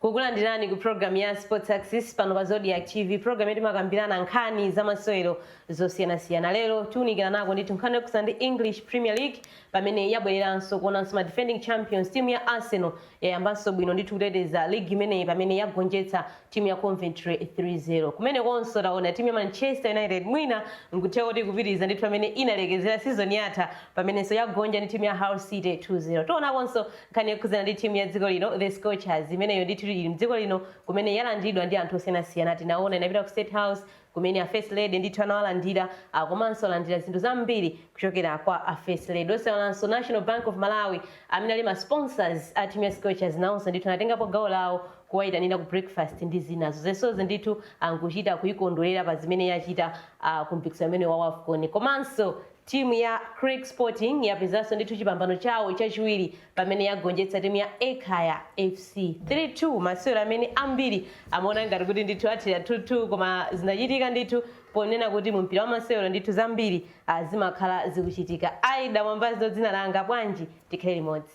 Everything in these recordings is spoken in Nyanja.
kukulandirani ku program ya sports access pano pa zodiac tv program yomwe timakambirana nkhani za masewero zosiyanasiyana lero tiunikira nako ndithu nkhani yokhudzana ndi english premier league Pamene yabwereranso kuonanso ma defending champions, timu ya Arsenal yayambanso bwino ndithu kuteteza ligi imeneyi pamene yagonjetsa timu ya Coventry 3-0. Kumene konso taona timu ya Manchester United mwina nkutheka kuti ikupitiriza ndithu pamene inalekezera season yatha pamenenso yagonja ndi timu ya Hull City 2-0. Tionakonso nkhani yokhudzana ndi timu ya dziko lino, The Scorchers, imeneyo ndithu ili mdziko lino kumene yalandiridwa ndi anthu osiyanasiyana. Tinaona inapita ku State House, kumene a first lady ndithu anawalandira a komanso alandira zinthu zambiri kuchokera kwa a first lady. Osayiwalanso National Bank of Malawi amene ali ma sponsors a team ya Scorchers nawonso ndithu anatengapo gawo lawo kuwayitanira ku breakfast ndi zinazo. Zonsezi ndithu ankuchita kuyikondwelera pa zimene yachita a ku mpikisano umene wa Wafcon. Komanso team ya Creck Sporting yapezanso ndithu chipambano chawo chachiwiri pamene yagonjetsa timu ya Ekhaya FC 3-2 masewero amene ambiri amaona ngati kuti ndithu athera 2-2 koma zinachitika ndithu ponena kuti mu mpira wa masewero ndithu zambiri ah, zimakhala zikuchitika Ida Mwambazi ndi dzina langa bwanji tikhale limodzi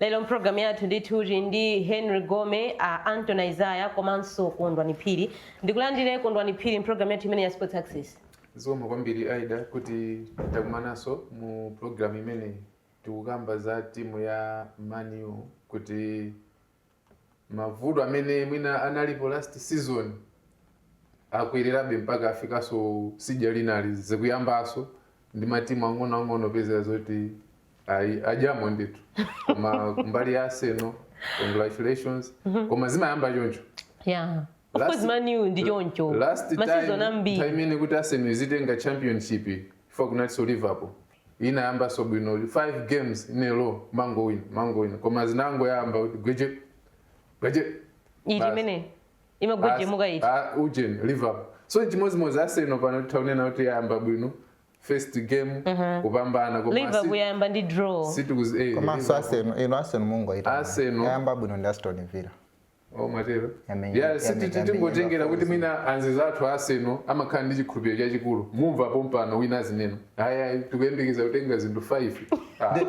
lero mpulogalamu yathu ndithu tili ndi henry gome a anton izaya komanso kondwani phiri ndikulandire kondwani phiri mpulogalamu yathu imeneyi ya sports access zikomo kwambiri aida kuti takumananso mu programu imeneyi tikukamba za timu ya man u kuti mavuto amene mwina analipo last season akwererabe mpaka afikaso sija dzinali zikuyambaso ndi matimu ang'onoang'ono opezera zoti ayi adyamo ndithu koma kumbali ya Arsenal congratulations koma zimayamba choncho yeah of Last- course Man U ndi choncho last time masizon ambiri time imene kuti Arsenal izitenga championship paja kunati so Liverpool inayambaso bwino 5 games in a row kumangowina kumangowina koma zinangoyamba kuti gweje gweje eti basi. imene imagwejemuka eti Ah, ah, ujeni liverpool so chimodzimodzi Arsenal pano titha kunena kuti yayamba bwino first game kupambana koma liverpool si- yayamba ndi draw situkuzi eh, komanso Liverpool. Arsenal ino Arsenal mungoyita Arsenal. yayamba bwino ndi aston villa Oh, mwatero ya tingotengera kuti mwina anzathu a Arsenal amakhala ndi chikhulupiriro chachikulu mumva pompano wina azinena ayayi tikuyembekeza kutenga zinthu 5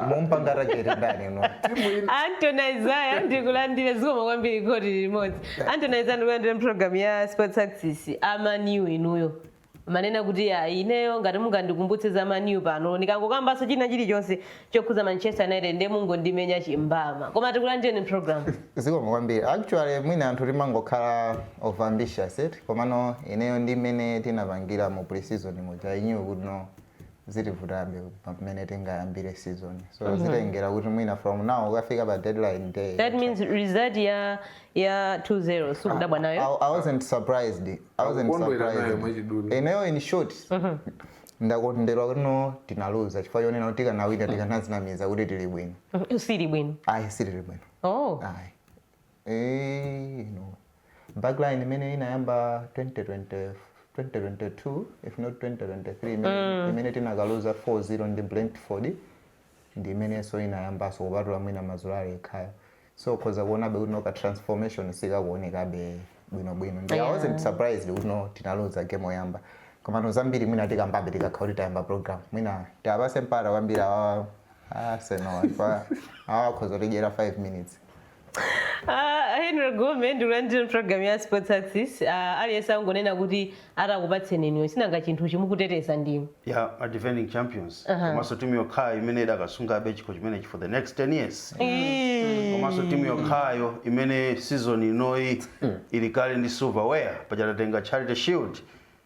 mumpanga rajeri ndani uno timu ina Anthony Isaiah ndikulandire zikomo kwambiri kuti tili limodzi Anthony Isaiah ndikulandire mpulogalamu ya Sports Access a Man U inuyo umanena kuti ayi ineyo ngati mungandikumbutse za Man U pano ndikangokambanso china chilichonse chokhuza manchester united ndiye mungondimenya chimbama koma tikulandireni program zikomo kwambiri actually mwina anthu timangokhala over ambitious komano ineyo ndi mmene tinapangira mu preseason muja I knew kuti no zitivutabe mmene tingayambire season so mm -hmm. zitengera kuti mwina from now ukafika pa deadline day that means result ya ya 2-0 simukudabwa ah, nayo I, i wasn't surprised i wasn't surprised ineyo in short mm -hmm. ndakondwera kuti no tinaluza chifukwa chonena kuti tikanawina tikanadzinamiza kuti tili bwino mm-hmm. simuli bwino ayi sitili bwino oh ayi Eeeh inu. Backline imene inayamba 2020 2022 if not 2023 imene, imene tinakaluza 4-0 ndi Brentford ndi imenenso inayambanso kupatula mwina Mazraoui yekhayo. So ukhoza kuonabe kuti no ka transformation sikakuonekabe bwinobwino. Ndi I Yeah. wasn't surprised kuti no tinaluza game oyamba. Komano zambiri mwina tikambabe tikakhala kuti tayamba program. Mwina tiapase mpata kwambiri awa Arsenal awa akhoza kutidyera 5 minutes. Ah, Henry Gome ndikulandire program ya Sports Access Ah, aliyense angonena kuti atakupatseni inuyo sinanga chinthu chi mukuteteza ndinu ya ma defending champions Aha. komanso timu yokhayo imene idakasungabe chikho chimenechi for the next 10 years komanso timu yokhayo imene season inoyi ili kale ndi silverware paja tatenga Charity Shield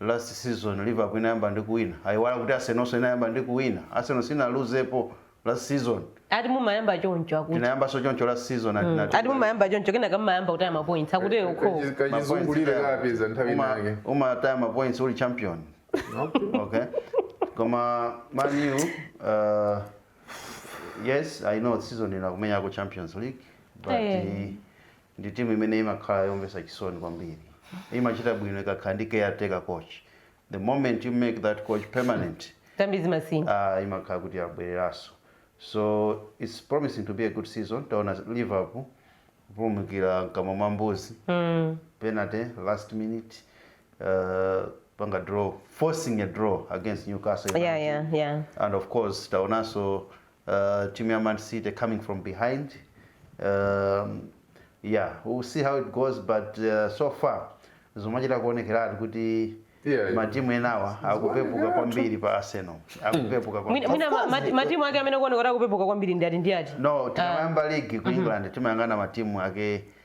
last season Liverpool inayamba ndi kuwina? Ayiwala kuti Arsenalso inayamba ndi kuwina? Arsenal sinaluzepo last season. Ati mumayamba choncho akuti. Tinayambanso choncho last season ati mm. Ati mumayamba choncho kenaka mumayamba kutaya ma points akuti eh, ukho. Kachizungulire kakupezani nthawi inake. Umataya ma points uli champion. okay. Koma Man U uh, yes I know season ino akumenya ku Champions League but hey. Eh. Ndi timu imene imakhala yomvetsa chisoni kwambiri. Imachita bwino ikakhala ndi caretaker coach. The moment you make that coach permanent, Zambi zimasintha. ah imakhala kuti yabwereranso. So it's promising to be a good season. Taona Liverpool kupulumukira mkamwa mwa mbuzi. Penalty last minute. Uh, kupanga draw, forcing a draw against Newcastle United. Yeah, yeah, yeah. And of course, taonanso Uh, timu ya Man City coming from behind um, yeah we'll see how it goes but uh, so far zikumachita kuonekeratu kuti Yeah, matimu enawa akupepuka kwambiri pa Arsenal akupepuka kwambiri. Mwina- mwina ma- ma- matimu ake amene akuonekera kupepuka kwambiri ndi ati ndi ati no tikamayamba ligi ku england timayang'ana matimu ake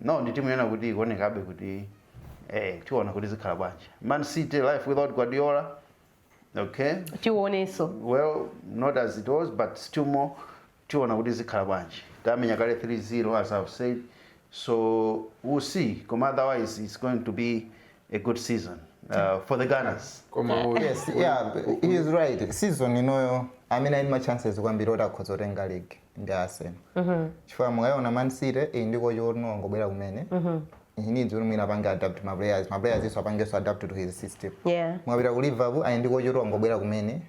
Now ndi timu yonena kuti ikuonekabe kuti eh tiona kuti zikhala bwanji. Man City life without Guardiola. Okay. Tionenso. Well, not as it was but still more tiona kuti zikhala bwanji. Tamenya kale 3-0 as I've said. So we'll see. Koma otherwise it's going to be a good season uh, for the Gunners. koma u- yes yeah he is right season inoyo amene ali ndi ma chances kwambiri oti akhoza kutenga league ndi Arsenal mhm. chifukwa mukayiona Man City iyi eh, ndi coach oti wangobwera kumene mhm. he needs kuti mwina apange adapt ma players ma players iwonso apangenso adapt to his system yeah. mukapita ku Liverpool ayi ndi coach oti wangobwera kumene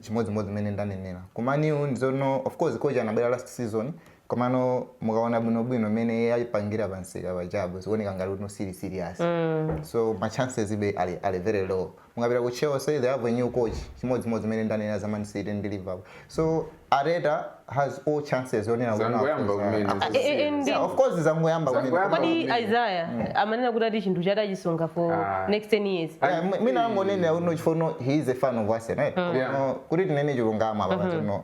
chimodzimodzi mmene ndanenera ku Man U ndi zoona of course coach anabwera last season komano mukaona bwinobwino mmene ayipangira pa msika panjapo zikuoneka ngati kuti no serious mm. so ma chances yabe ali, ali very low Mukapita ku Chelsea they have a new coach chimodzimodzi mmene ndanenera za Man City ndi Liverpool so Arteta has all chances onena kuti Zangoyamba akhoza- kumene, akhoza- zazii. Eh, eh, ndi- Yeah, of course zangoyamba kumene. Zangoyamba. Koma- kodi isaya amanena kuti ati chinthu chati achisunga for Ah. next 10 years Yeah, m- mwina angonenera kuti no chifukwa you know he is a fan of Arsenal right? Yeah. Koma kuti tinene chilungamo apa pazino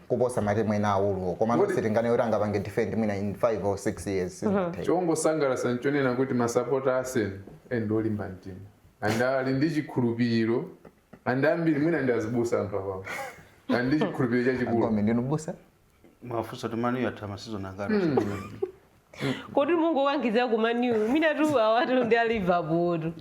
kuposa matimu ena aakuluwo komano Kodi- sitinganene zoti angapange defend mwina in 5 or 6 years sizingatheke. chongosangalatsa nchonena kuti masapota Arsenal ndi olimba mtima and ali ndi chikhulupiriro and ambiri mwina ndi azibusa anthu awawo ali ndi chikhulupiriro chachikulu Gome ndinu m'busa mwafunsa kuti Man U yatha ma season angati kodi mungowakankhiza ku Man U mwinatu awatu ndi a Liverpool tu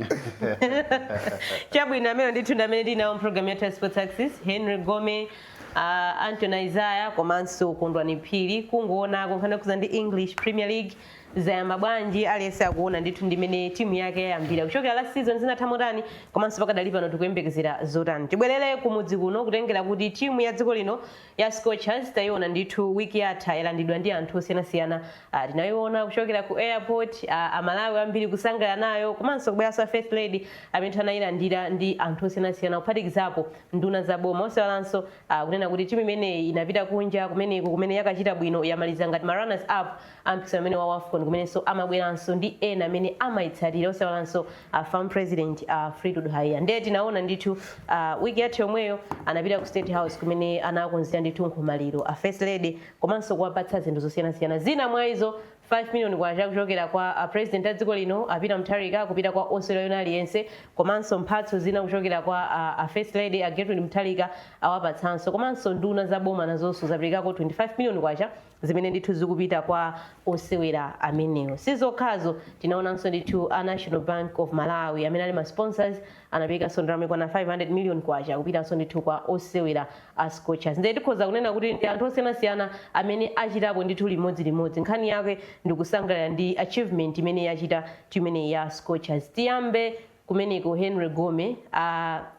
chabwino amenewo ndithu ndi amene tili nawo mpulogalamu yathu ya sports axis henry gome uh, anton isaya komanso kondwani phiri kungoonako nkhani yokhudza ndi english premier league zayamba bwanji aliyense akuona ndithu mmene timu yake yayambira kuchokera last season zinatha motani komanso pakadali pano tikuyembekezera zotani tibwerere kumudzi kuno kutengera kuti timu ya dziko lino Ya Scorchers taiona ndithu week yatha yalandidwa ndi anthu osiyanasiyana ah, tinaiona kuchokera ku airport ah, amalawi ambiri kusangalala nayo komanso kubweranso a first lady amene ndithu anayilandira ndi anthu osiyanasiyana kuphatikizapo nduna za boma osaiwalanso ah, kunena kuti timu imeneyi inapita kunja kumeneko kumene yakachita bwino yamaliza ngati ma runners up A mpikisano umenewu wa Wafcon kumenenso amabweranso ndi ena amene amaitsatira osaiwalanso a fam president a Fleetwood Haiya nde tinaona ndithu uh, week yatha yomweyo anapita ku State House kumene anakonzeredwa ndithu nkhomaliro a First Lady komanso kuwapatsa zinthu zosiyanasiyana zina mwa izo 5 million kwacha kuchokera kwa a president a dziko lino a Peter Mutharika kupita kwa osewera wina aliyense komanso mphatso zina kuchokera kwa a, a First Lady a Gertrude Mutharika awapatsanso komanso nduna za boma nazonso zaperekako 25 million kwacha zimene ndithu zikupita kwa osewera amenewo. Si zokhazo, tinaonanso ndithu a National Bank of Malawi amene ali ma sponsors anaperekanso ndalama yokwana 500 million kwacha kupitanso ndithu kwa osewera a Scorchers. Ndiye tikhoza kunena kuti ndi anthu osiyanasiyana amene achitapo ndithu limodzilimodzi. Nkhani yake ndikusangalala ndi achievement imene yachita timu imeneyi ya Scorchers. Tiyambe kumeneko henry gome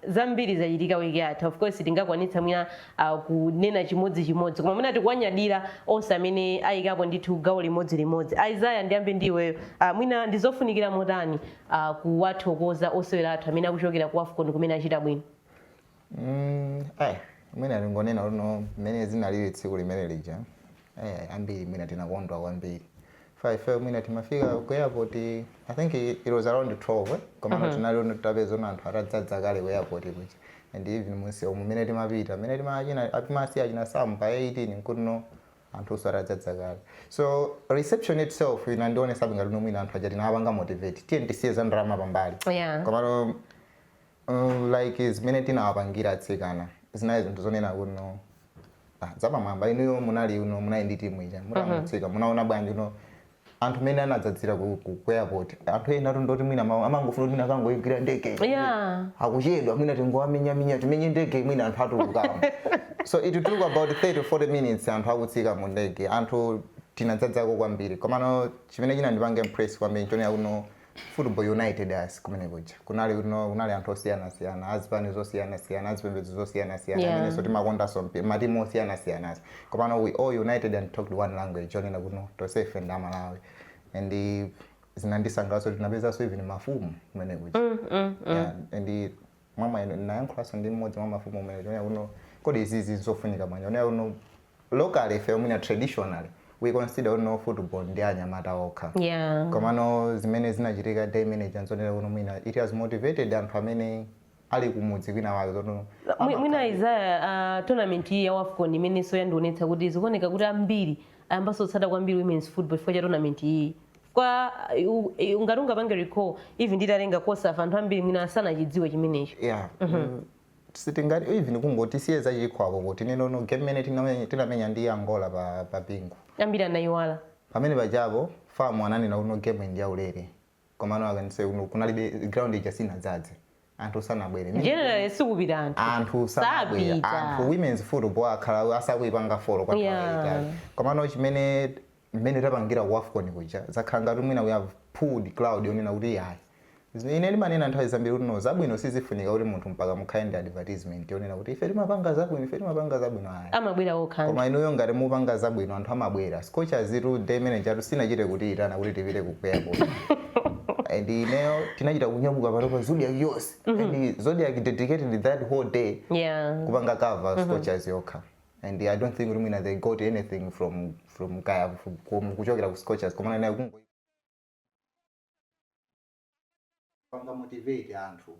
zambiri zachitika wiki yatha of course sitingakwanitse mwina ah, kunena chimodzi chimodzi koma mwina tikuwanyadira onse amene ayikapo ndithu gawo limodzi limodzi aizaya ndiyambe ndi iweyo ah, mwina ndizofunikira motani ah, kuwathokoza osewera athu amene akuchokera ku afcon kumene achita bwino Mm, eh, mwina ndingonena kuti no mmene zinalili tsiku limene lija eh, ambiri mwina tinakondwa kwambiri fa ife mwina timafika ku airport i think i- it was around 12 eh? koma mm -hmm. tinali tapeza anthu atadzadza kale ku airport kuja and even mumsewu umu mmene timapita mmene timachina atimasiya china samu pa 18 nkuti no anthunso atadzadza kale so reception itself inandionesa ngati no mwina anthu aja tinapanga motivate tiyeni tisiye za ndalama pambali Yeah. komano mm like zimene tinawapangira atsikana zinali zinthu zonena kuti no ah, zapamwamba inuyo munaliko munali ndi timu ija mutamatsika munaona bwanji kuti no anthu mene anadzadzira ku, ku, ku airport anthu ena kunoti mwina ma- amangofuna kuti mwina akangoigwira ndege Yeah. akuchedwa mwina tingowamenyaminya timenye ndege mwina anthu atulukamo so it took about 30 to 40 minutes anthu akutsika mu ndege anthu tinadzadzako kwambiri komano chimene chinandipanga impress kwambiri chonena kuti no Football united us kumene kuja kunali kuno kunali anthu osiyana siyana azipani zosiyana siyana azipembedzo zosiyana siyana Yeah. amenenso timakondanso mpi- matimu osiyana siyana as komano we all united and talked one language chonena kuti no tonse ife ndi amalawi and zinandisangalatsa tinapezanso even mafumu kumene kuja Yeah, and mwamwayi ndinayankhulanso ndi mmodzi mwa mafumu kumeneko chonena kuti no kodi izizi nzofunika bwanji ponena kuti no locally ifeyo mwina traditionally we consider kuti no football ndi anyamata okha yeah komano zimene zinachitika day manager nzonena kuti mwina it has motivated anthu amene ali kumudzi kwina wake zoti no Mwi- mwina izaya uh, tournament iyi ya wafcon imenenso yandionetsa kuti zikuoneka kuti ambiri ayambanso kutsata kwambiri women's football chifukwa cha tournament iyi kwa u- u- ngati mungapange recall even nditalenga kosafa anthu ambiri mwina asanachidziwe chimenecho yeah mm, sitingati even kungoti tisiye zachikhwako kuti nenono game imene tinamenya- tinamenya ndi angola pa, pa bingu ambiri anayiwala pamene pajapo FAM ananena kuti no game ndi yaulere komano akanise kuti no kunalibe ground ija sinadzadze anthu sanabwere Meaning- generally sikupita anthu anthu sanabwere Sapita. anthu women's football akhala asakuipanga folo kwa Yeah. nthawi yaitali komano chimene mmene tapangira ku afcon kuja zakhala ngati mwina we have pulled crowd yonena kuti yayi Zimene ine ndimanena nthawi zambiri kuti no zabwino sizifunika kuti munthu mpaka mukhale ndi advertisement yonena kuti ife timapanga zabwino ife timapanga zabwino ayi amabwera okha koma inuyo ngati mupanga zabwino anthu amabwera Scorchers itu day manager atu sinachite kutiitana kuti tipite ku airport and ineyo tinachita kunyamuka panopa zodiac yonse and zodiac dedicated that whole day yeah kupanga cover scorchers yokha and i don't think kuti mwina they got anything from from kaya from- from- kuchokera ku scorchers komana nayo kungopanga motivate anthu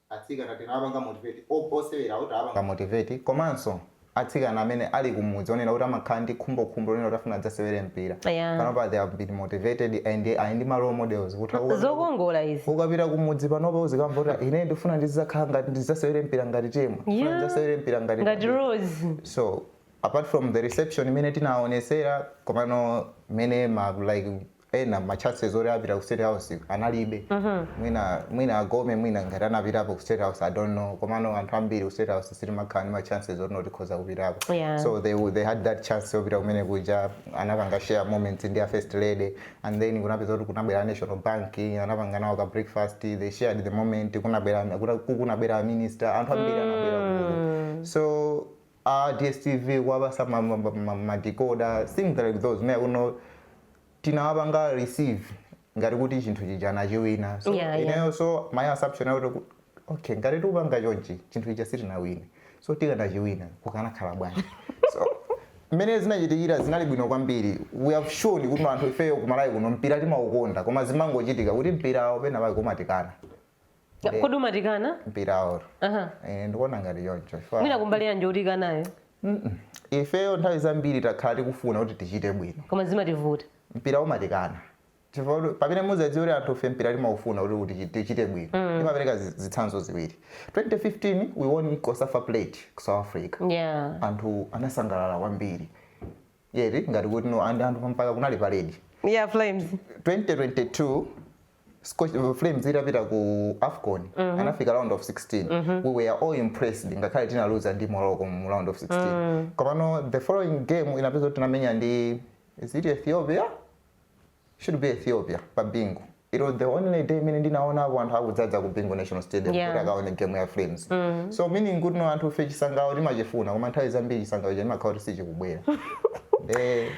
Atsikana tinapanga motivate, o osewerawo tawapanga motivate komanso atsikana amene ali kumudzi onena kuti amakhala ndi khumbokhumbo lonena kuti afuna adzasewere mpira Yeah. panopa they have been motivated and ali ndi ma role models kuti ukapita ku- zokongola izi ukapita kumudzi panopa uzikamva kuti "Ah, ine ndifuna ndizakhala ngati ndizasewere mpira ngati Temwa ndifuna Yeah. ndizasewere mpira ngati ngati Kabwira." rose so apart from the reception imene tinaonesera komano mene ma like ena ma chances oti apita ku state house analibe mwina mwina agome mwina ngati anapitapo ku state house i don't know komano anthu ambiri ku state house sitimakhala ndi ma chances oti tikhoza kupitako Yeah. so they, w- they had that chance yopita kumene kuja anapanga share moments ndi a first lady and then kunapeza kuti kunabwera a national bank anapanga nawo ka breakfast they shared the moment kunabwera kuna- kunabwera a minister anthu ambiri anabwera kuno so a dstv kuwapasa ma ma ma ma decoder things like those mwina kuno tinawapanga receive ngati kuti chinthu chija anachiwina so Yeah, yeah. ineyo so my assumption yakuti ku- okay ngati tikupanga chonchi chinthu chija sitinawine so tikanachiwina kukanakhala bwanji so mmene zinachitikira zinali bwino kwambiri we have shown kuti anthu ifeyo ku Malawi kuno mpira timaukonda koma zimangochitika kuti mpirawo pena pake umatikana Nde- kodi umatikana mpirawo Aha. Eh, ndikuona ngati choncho Chifukwa- mwina kumbali yanji utikanayo Mm-mm. ifeyo nthawi zambiri takhala tikufuna kuti tichite bwino koma zimativuta mpira umatikana chifukwa kuti pamene muzadziwa kuti anthu fe mpira timaufuna kuti kuti chi- tichite bwino timapereka zi- zitsanzo ziwiri 2015 we won cosafa plate ku south africa yeah anthu anasangalala kwambiri Yeti ngati kuti no and anthu mpaka kunali parade. Ya Flames. 2022 Scotch, uh, Flames itapita ku AFCON mm -hmm. anafika round of 16 mm -hmm. we were all impressed ngakhale tinaluza ndi Morocco mu round of 16 mm. komano the following game inapeza kuti tinamenya ndi is it Ethiopia should be Ethiopia pa Bingu. It was the only day imene ndinaonapo anthu akudzadza ku Bingu National Stadium Yeah. kuti akaone game ya Flames. So meaning kuti no anthu fe chisangalalo timachifuna koma nthawi zambiri chisangalalo chija chimakhala kuti sichikubwera. Eh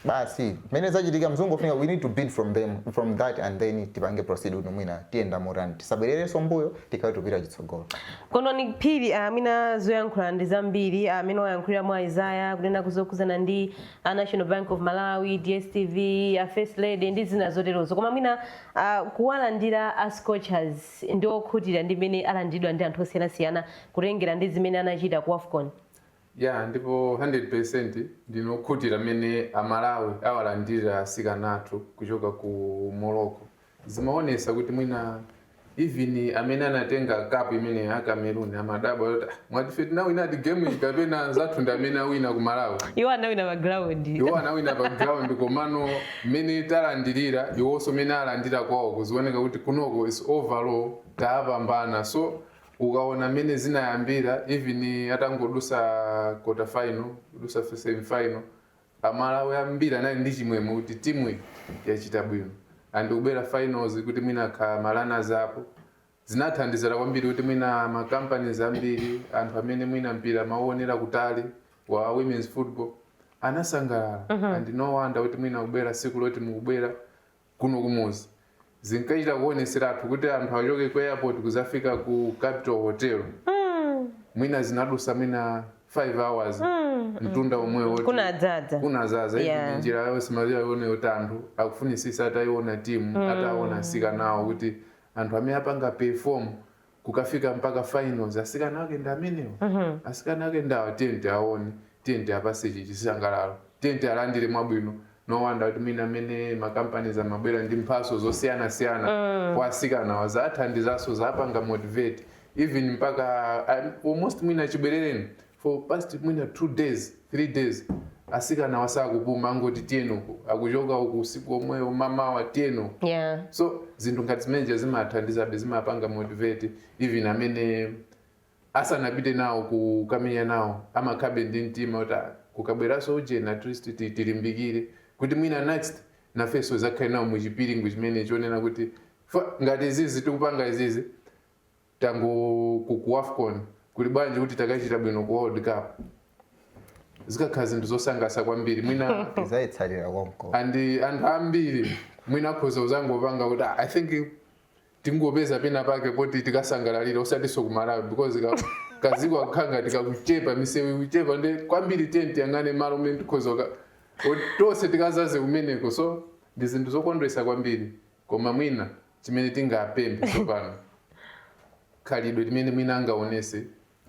basi mene zachitika mzungu ufunika we need to build from them from that and then tipange proceed kuti mwina tiyenda motani tisabwererenso mbuyo tikhale tupita chitsogolo. koma a Phiri mwina zoyankhula ndi zambiri amene wayankhulira mwa Isaya kunena kuzokhudzana ndi a National Bank of Malawi, DSTV, a First Lady ndi zina zoterozo koma mwina uh, kuwalandira a Scorchers ndi okhutira ndi mmene alandiridwa ndi anthu osiyanasiyana kutengera ndi zimene anachita ku AFCON. ya ndipo 100% ndine okhutira mmene amalawi awalandira asikana athu kuchoka ku morocco Zimaonesa kuti mwina even amene anatenga cup imene a Cameroon amadabwa kuti "Ah, mwati ife tinawinadi game iyi kapena anzathu ndi amene awina ku Malawi iwo anawina pa ground komano mmene talandirira iwonso mmene alandira kwawo kuzioneka kuti kunoko is overall tapambana so ukaona mmene zinayambira even atangodusa quarter final kudusa semi final A Malawi ambiri anali ndi chimwemwe kuti timuyi yachita bwino and kubwera finals kuti mwina akhala ma runners up. Zinathandizira kwambiri kuti mwina ma companies ambiri, anthu amene mwina mpira amauonera kutali wa women's football anasangalala and no wonder kuti mwina kubwera siku loti mukubwera kuno kumuzi zinkachita kuoneseratu kuti anthu achoke ku airport kuzafika ku capital hotel mwina zinadusa mwina 5 hours mtunda omwewo kuti- Kunadzadza. kunazaza Yeah. yeah. njira yonse imaziwa yone kuti anthu akufunisisa atayiona timu ataona asikanawo kuti anthu amene apanga perform kukafika mpaka finals asikana ake ndi amenewa asikana ake ndi awa tiyeni tiawone tiyeni tiapase chi chisangalalo tiyeni tialandire mwabwino no wonder kuti mwina amene ma companies amabwera ndi mphaso zosiyana siyana kwa asikanawa zathandizaso zapanga motivate even mpaka ah, almost mwina chibwerereni for past mwina 2 days 3 days asikanawa sakupuma angoti tiyeni uku akuchoka uku usiku omwewo mamawa tiyeni uku yeah. so zinthu ngati zimeneja zimathandizabe zimapanga motivate even amene asanapite nawo kukamenya nawo amakhalabe ndi mtima kuti "Ah, kukabweraso ujeni at least ti- tilimbikire kuti mwina next nafenso zakhale nawo muchipiringu chimene chonena kuti "Fa- ngati izizi tikupanga izizi tango ku ku wafcon kuli bwanji kuti takachita bwino ku world cup zikakhala zinthu zosangasa kwambiri mwina tizaitsatira konko and anthu ambiri mwina akhoza kuzangopanga kuti "Ah, i think tingopeza pena pake poti tikasangalalire osatiso kumalawi because ka- kaziko akukhala ngati kakuchepa misewu ikuchepa nde kwambiri tikayang'ane malo umene tikhoza ka- oti tonse tikazaze kumeneko so ndi zinthu zokondwesa kwambiri Koma mwina chimene tingapemphe tsopano, khalidwe limene mwina angaonese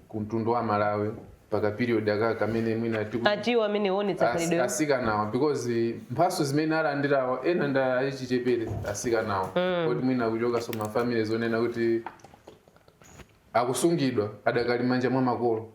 ku mtundu wa Amalawi pa ka period aka kamene mwina tiku, Atiwonetse amene oonetsa as, khalidwe asikanawa because mphatso zimene alandirawa ena ndi achichepere asikanawa poti mwina akuchokaso ma families zonena kuti akusungidwa adakali manja mwa makolo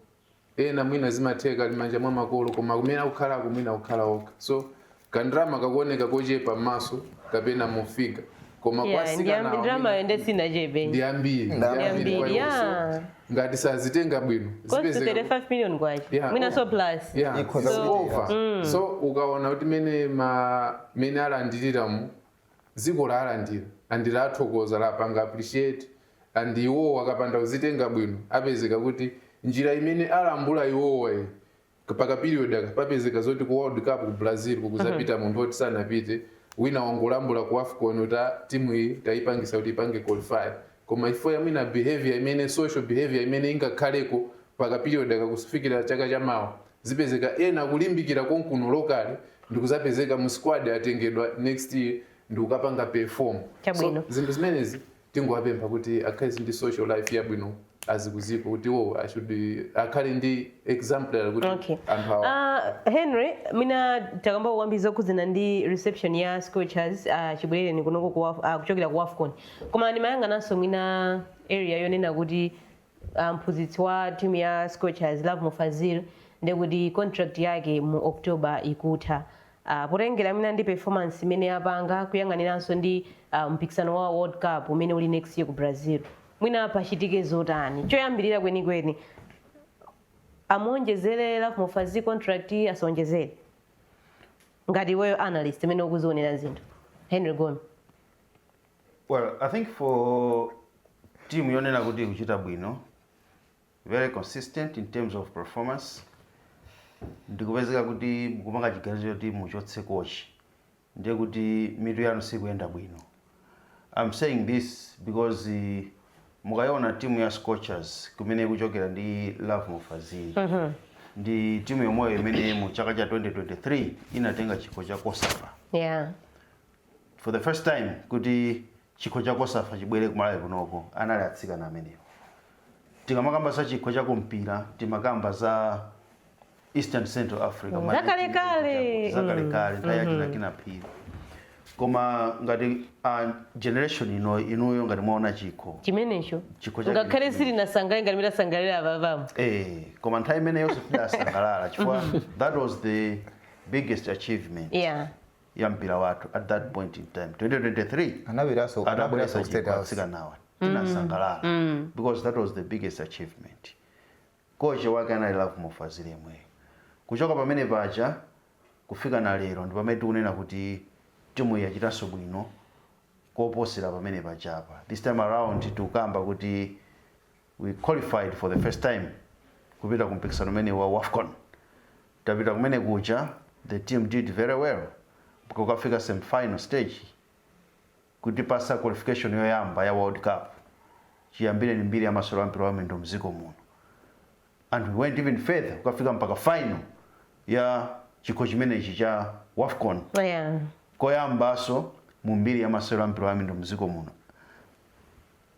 ena mwina zimatheka ali manja mwa makolo koma kumene akukhalako mwina akukhala okha so kandalama kakuoneka kochepa mmaso kapena mu figa koma kwa Yeah, ndi am- sikana ndalama yomwe sinachepe ndi ambiri ndi Ndalama ambiri zili kwa iwo. yeah. ngati sazitenga bwino close to zipezeka- 35 million kwacha Yeah. mwinanso plus Yeah, Ikhoza it's kuchitika. over. so ukaona kuti mene ma mene alandirira mu dziko lalandira and lathokoza lapanga appreciate and iwowo akapanda kuzitenga bwino apezeka kuti njira imene alambula iwowa iyi pa ka period aka papezeka zoti ku world cup ku brazil kukuzapita munthu oti sanapite wina wangolambula ku afcon kuti "Ah, timu iyi tayipangisa kuti ipange qualify koma if ya mwina behavior imene social behavior imene ingakhaleko pa ka period aka kufikira chaka chamawa zipezeka ena akulimbikira konkuno locally ndikuzapezeka mu squad atengedwa next year ndikukapanga perform so zinthu zimenezi tingowapempha kuti akhale ndi social life yabwino azikuziko kuti iwo should akhale ndi example kuti okay. anthu awa uh, Henry mwina takamba kwambiri zokhuzana ndi reception ya Scorchers uh, ah, chibwereni kunoko kuwa, uh, kuchokera ku Afcon koma ndimayang'ananso mwina area yonena kuti a mphunzitsi wa timu ya Scorchers, Lovemore Fazili, ndi kuti contract yake mu October ikutha. Ah, potengera mwina ndi performance imene apanga kuyang'aniranso ndi ah, mpikisano wa World Cup umene uli next year ku Brazil. Mwina pachitike zotani? Choyambirira kwenikweni amuonjezere Lovemore Fazili contract asaonjezere? Ngati iweyo analyst imene ukuzionera zinthu. Henry Gome. Well, I think for team yonena kuti ikuchita bwino very consistent in terms of performance ndikupezeka kuti mukupanga chiganizo choti muchotse kochi ndiye kuti mitu yanu sikuyenda bwino I'm saying this because uh, mukayiona timu ya Scorchers kumene ikuchokera ndi Lovemore Fazili mm -hmm. ndi timu yomweyo imene mu chaka cha 2023 inatenga chikho cha Cosafa yeah. for the first time kuti chikho cha COSAFA chibwere kumalawi kunoko anali atsikana amenewo tikamakamba za chikho cha kumpira timakamba za eastern central africa mm. zakalekale zakalekale mm. nthawi ya mm-hmm. Kinnah Phiri koma ngati a generation ino inuyo ngati mwaona chikho chimenecho ngakhale sitinasangalale ngati mmene tasangalalira apapamo eh koma nthawi imeneyonso tidasangalala chifukwa mm-hmm. that was the biggest achievement yeah. ya mpira wathu at that point in time 2023 Anabweraso atabweretsa anabweraso chikho State House. atsikanawa tinasangalala because that was the biggest achievement kochi wake anali Lovemore Fazili yemweyo kuchoka pamene paja kufika na lero ndi pamene tikunena kuti timu yachitanso bwino koposera pamene pajapa this time around tikukamba kuti we qualified for the first time kupita ku mpikisano umene wa wafcon tapita kumene kuja the team did very well kukafika semifinal stage kutipasa qualification yoyamba ya world cup chiyambireni mbiri ya masewero a mpira wa miyendo mdziko muno and we went even further kukafika mpaka final ya chikho chimenechi cha wafcon Yeah. koyambaso mu mbiri ya masewero a mpira wa miyendo mdziko muno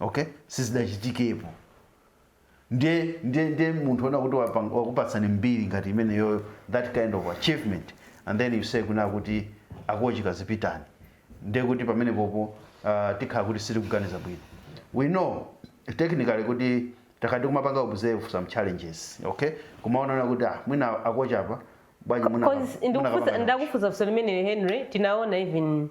Ok? Sizidachitikepo. Ndiye, ndiye, ndiye munthu onena kuti wapang- wakupatsani mbiri ngati imeneyoyo, that kind of achievement, and then you say kunena kuti akochi kazipitani. Ndiye kuti pamenepopo uh, tikhala kuti sitikuganiza bwino. We know technically kuti takhala tikumapanga observe some challenges, okay? Kumaona kuti ah, mwina akochi apa bwanji muna- Because muna ndikufunsa- kapanga ndakufunsa funso limeneli Henry tinaona even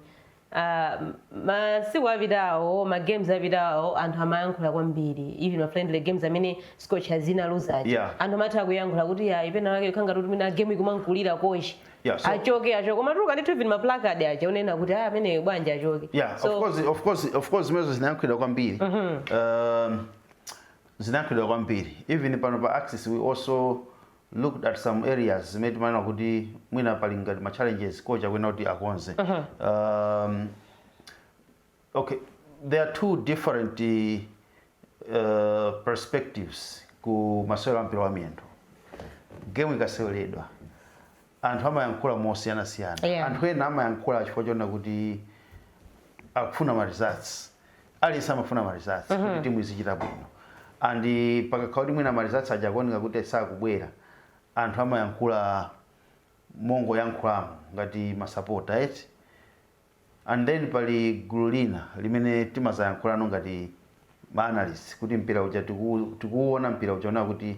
Ah, masiku apitawo ma games apitawo anthu amayankhula kwambiri even ma friendly games amene Scorchers inaluza aja Yeah. anthu amatha kuyankhula kuti yayi penapake ukhala ngati mwina game ikumamkulira kochi Yeah, so- achoke achoke kumatuluka ndithu even ma placard aja onena kuti ah amene bwanji achoke yeah so of course of course of course zimenezo zinayankhulidwa kwambiri um, zinayankhulidwa kwambiri even pano pa axis we also looked at some areas zimene timanena kuti mwina pali ngati ma challenges kochi akuyenera kuti akonze um, okay there are two different uh, perspectives ku masewero a mpira wa miyendo game ikaseweredwa Anthu amayankhula mosiyanasiyana. Yeah. Anthu ena amayankhula chifukwa chonena kuti akufuna ma results. Aliyense amafuna ma results mm -hmm. kuti timu izichita bwino. And pakakhala kuti mwina ma results aja akuoneka kuti sakubwera, anthu amayankhula mongoyankhulamo ngati masapota eti. And then pali gulu lina limene timazayankhulano ngati ma analysts kuti mpira uja tikuuona mpira uja kuti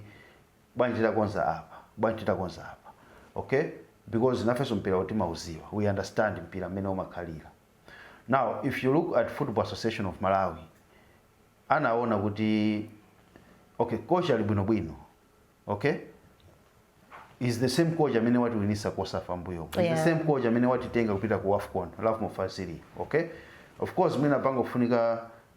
bwanji takonza apa bwanji takonza apa ok because nafenso mpirawu timauziwa we understand mpira mmene umakhalira now if you look at football association of malawi anaona kuti okay coach ali bwinobwino okay is the same coach amene watiwinisa cosafa mmbuyo is Yeah. the same coach amene watitenga kupita ku afcon lovemore fazili okay of course mwina pangofunika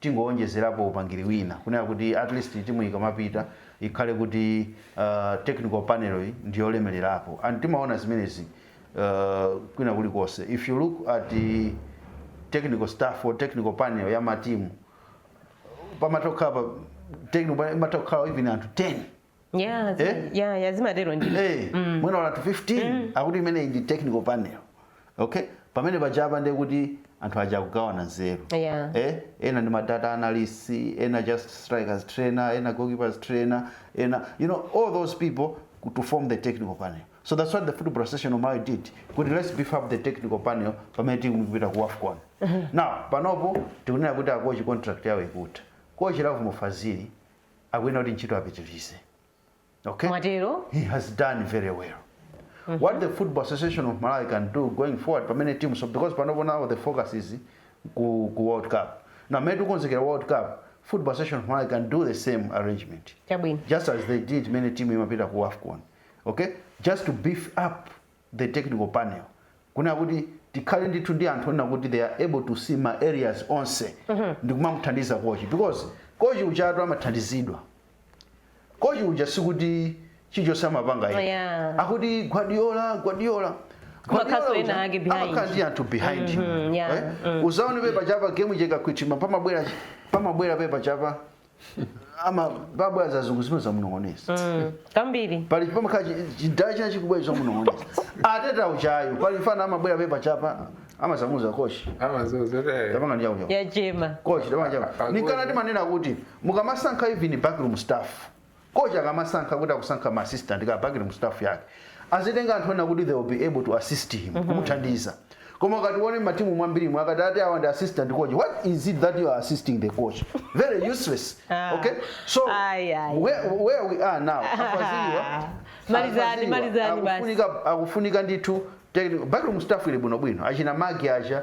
tingowonjezerapo upangiri wina kunena kuti atleast timuyi ikamapita ikhale kuti technical panelyi ndiyolemelerapo and timaona zimenezi kwina kulikonse if you look at technical staff or technical panel ya matimu pamatha kukhala technical panel imatha kukhala even anthu 10 Yeah, zi- Eh? yeah, yeah, zimatero ndi. Eh, mwina anthu 15 akuti imeneyi ndi technical panel okay pamene pajapa ndiye kuti anthu aja akugawana nzeru Yeah. eh, ena ndi madata analyst ena just strikers trainer ena goalkeepers trainer ena you know all those people could to form the technical panel so that's what the football association of Malawi did kuti let's beef up the technical panel pamene tikupita ku afcon now panopo tikunena kuti a coach contract yawo ikutha coach lovemore fazili akuyenera kuti ntchito apitilize okay Mwatero? he has done very well what the football association of malawi can do going forward pamene team so because panopo now the focus is ku, ku world cup now mmene tikukonzekera world cup football association of malawi can do the same arrangement Chabwino. just as they did many team imapita ku afcon okay just to beef up the technical panel kunena kuti tikhale ndithu ndi anthu onena kuti they are able to see ma areas onse ndikumamuthandiza coach because coach ujatu amathandizidwa coach uja sikuti chilichonse amapanga yekha. Yeah. akuti guardiola guardiola Kumakhaso ena ake behind. amakhala ndi anthu behind him. yeah, Eh? uzaone pep ujapa game ikakwitima pamabwera pamabwera pep ujapa amabwera azungu azimunong'oneza Mm, kambiri pali pamakhala chidala china chikubwera kuzamunong'oneza arteta ujayo pali mfana amabwera pepa chapa amazamuuza coach amazozo te tapanga ndi chakuchapa yachema coach tapanga chapa Agogo. nchifukwa timanena kuti mukamasankha even backroom staff Coach akamasankha kuti akusankha ma assistant ka backroom staff yake, azitenga anthu onena kuti they will be able to assist him, kumuthandiza. Koma ukati uone mmatimu mwambirimu akati ati awa ndi assistant coach, what is it that you are assisting the coach? Very useless. Ah. Okay? So Ayi, ayi. where, where we are now, A Faziliwa, Malizani, A Faziliwa, malizani basi. akufunika akufunika ndithu technical- backroom staff ili bwinobwino, achina Magi aja,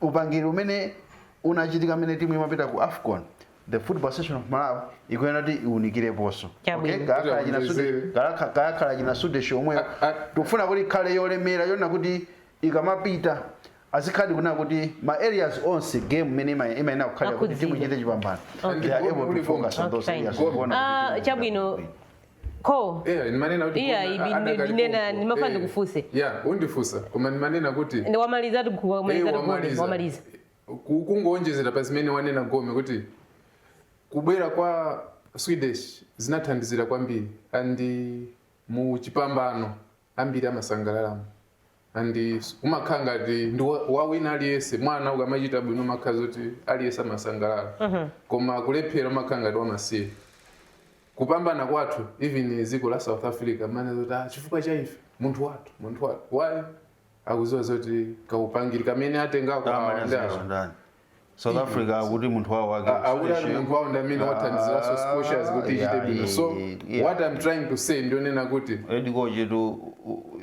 Upangiri umene unachitika mmene timu imapita ku afcon the football association of malawi ikuyenera kuti iwunikireponso Chabwino. okay? kayakhala Kuti achina sude awonjezere. kayakha- kayakhala achina sudesh omwewo A- a- tikufuna kuti ikhale yolemera yonena kuti ikamapita azikhaladi kunena kuti ma areas onse game mmene ima- imayenera kukhalira kuti timu Akudziwa. ichite chipambano Okay. they are able to focus on those Okay. areas Goal. Kuona kuti Ah, timu- chabwino ko Yeah, ndimanena kuti Iya, koma ibi- ndi- adakali ndinena- pompo. ndimafuna Eh, ndikufunse. yeah undifunsa koma ndimanena kuti ndi wamaliza tigu- wamaliza Eh, tigu- wamaliza Ku- kungowonjezera pa zimene wanena gome kuti kubwera kwa sudesh zinathandizira kwambiri and mu chipambano ambiri amasangalalamo and umakhala ngati ndi wa- wa wina aliyense mwana ukamachita bwino umakhala zoti aliyense amasangalala koma kulephera umakhala ngati wamasiye kupambana kwathu even dziko la south africa amanena zoti ah, chifukwa cha ife munthu wathu munthu wathu why akuziwa zoti kaupangiri kamene atenga kwa ndani? south africa akuti munthu wawo wake A- akuti ali Seychelles. munthu wawo ndi amene wathandiziraso scorchers kuti ichite Yeah, bwino so yeah, yeah. what i'm trying to say ndionena kuti Edi Koje to you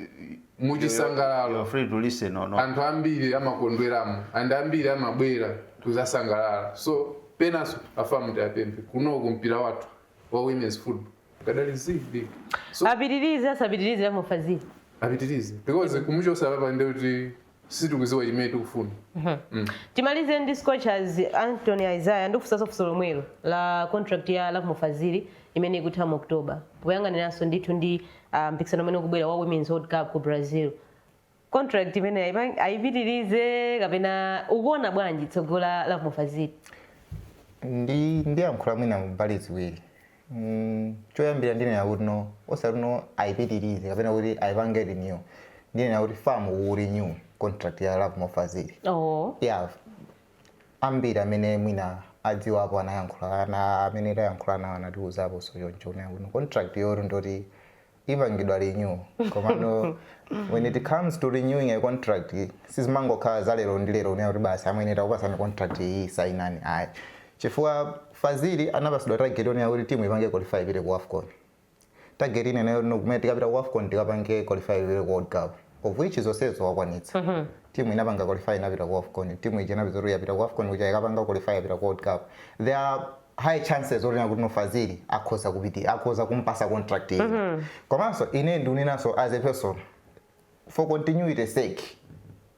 are muchisangalalo free to listen or not. anthu ambiri amakondweramo and ambiri amabwera kuzasangalala so penanso a fam tiapemphe kunoku mpira wathu wa women's football kadali zibig so apitirize asapitirize lovemore fazili apitirize because kumuchosa apapa ndekuti sitikuziwa chimene tikufuna mm. timalize ndi scorchers anthony isaiah ndikufunsanso funso lomwelo la contract ya lovemore fazili imene ikutha mu october poyang'aniranso ndithu ndi ah, mpikisano umene ukubwera wa women's world cup ku brazil contract imene aipa- aipitirize kapena ukuona bwanji tsogolo la lovemore fazili ndi ndiyankhula mwina mbali ziwiri mm, choyambira ndinena kuti no osati no ayipitirize kapena kuti ayipange renew ndinena kuti fam ku renew contract ya lovemore fazili oh yeah ambiri amene mwina adziwapo anayankhula ana amene tayankhula nawo anatiuzaposo choncho kunena kuti contract yoti ndoti ipangidwa renew komano when it comes to renewing a contract sizimangokhala za lero ndi lero kunena kuti basi amwene takupasani contract iyi sainani ayi chifukwa fazili anapasidwa target yonena kuti timu ipange qualify ipite ku afcon target ina nayo no- kumene tikapita ku afcon tikapange qualify ipite ku world cup of which zonsezo wakwanitsa timu inapanga qualify inapita ku afcon timu ija inapita kuti yapita ku afcon kuja ikapanga qualify yapita ku world cup there are high chances onena kuti no fazili akhoza kupitira akhoza kumpasa contract ina mm -hmm. komanso ine ndiunenaso as a person for continuity sake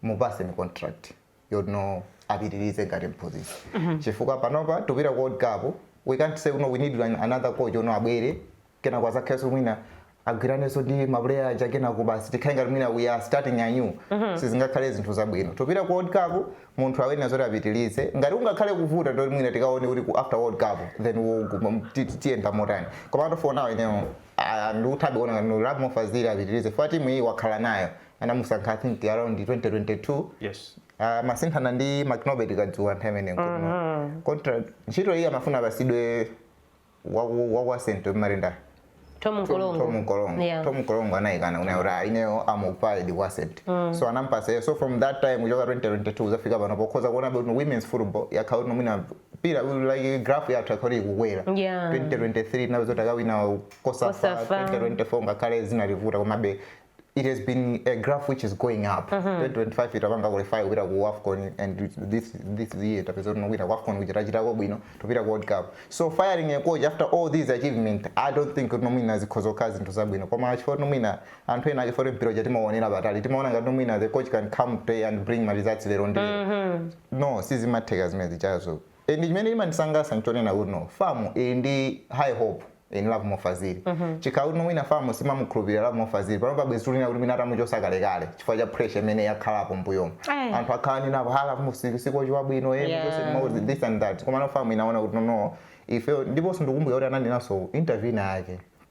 mupaseni contract yoti no apitirize ngati mphunzitsi mm -hmm. chifukwa panopa tupita ku world cup we can't say no we need another coach oti no abwere kenako azakhalenso mwina agwiranenso ndi mapuleya aja kenako basi tikhale ngati mwina we are starting anew sizingakhale zinthu zabwino topita ku world cup munthu ayenera zoti apitirize ngati kungakhale kuvuta ndoti mwina tikaone kuti ku after world cup then we'll go- m- ti- ti- tiyenda motani koma to for now ineyo ah, ndikuthabe kuona ngati Lovemore Fazili apitirize fukwa timu iyi wakhala nayo anamusankha i think around 2022 yes Ah, amasinthana ndi mcnelbert kazuwa nthawi imeneyo contract ntchito iyi amafuna apasidwe waku waku Ascent amati nda Thom Thom Mkorongo. Thom Mkorongo Yeah. Thom Mkorongo anayikana kunena kuti ah, ineyo am occupied ku Ascent. So anampasa iye. so from that time kuchoka 2022 kuzafika pano pokhoza kuona kuti women's football yakhala kuti no mwina mpira like graph yathu yakhala kuti ikukwera Yeah. 2023 nazo takawina cosafa Cosafa. 2024 ngakhale zinalivuta komabe it has been a graph which is going up mm -hmm. 2025 itapanga qualify kupita ku afcon and this, this year tapeza kuti no kupita ku afcon kuja tachitako bwino tikupita ku world cup so firing a coach after all these achievements i don't think kuti no mwina zikhoza kukhala zinthu zabwino koma chifukwa kuti no mwina anthu ena ake poti mpira uja timaonera patali timaona ngati no mwina the coach can come today and bring ma results lero ndi mm -hmm. no sizimatheka zimene zijazo and chimene chimandisangasa nchonena kuti no fam ili ndi high hope in Lovemore Fazili mm -hmm. chikhala kuti wina fam simamukhulupirira Lovemore Fazili panopa bwezi tikunena kuti mwina atamuchosa kalekale chifukwa cha pressure imene yakhalapo mbuyomo Eh. anthu akhala akunenapo ha Lovemore Fazili si kochi wabwino eh, Yeah. muchose mauzi, this and that koma no fam inaona kuti no no ife ndiponso ndikumbukira kuti ananenaso interview ina yake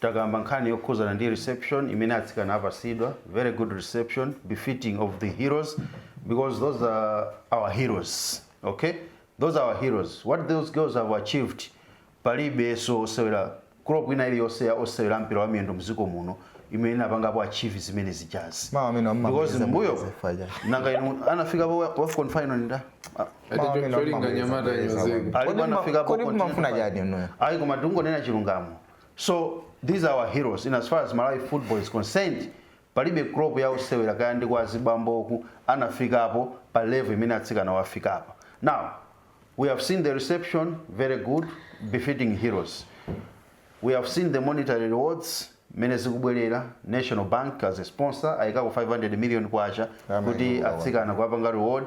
Takamba nkhani yokhuzana ndi reception imene atsikana apasidwa, very good reception befitting of the heroes because those are our heroes okay those are our heroes what those girls have achieved palibeso osewera crop ina iliyonse ya osewera a mpira wa miyendo mziko muno imene inapangapo achieve zimene zijazo Mawu amene amamaliza because mbuyo mbuyo zifaya. nanga inu anafikapo wafcon final ndani ayi koma tikungonena chilungamo so these are our heroes in as far as malawi football is concerned palibe crop ya osewera kaya ndi kwa zibamboku inafikapo pa level imene atsikanawa afikapa now we have seen the reception very good befitting heroes we have seen the monetary rewards mene zikubwerera national bank as a sponsor ayikapo 500 million kwacha kuti atsikana kuwapanga reward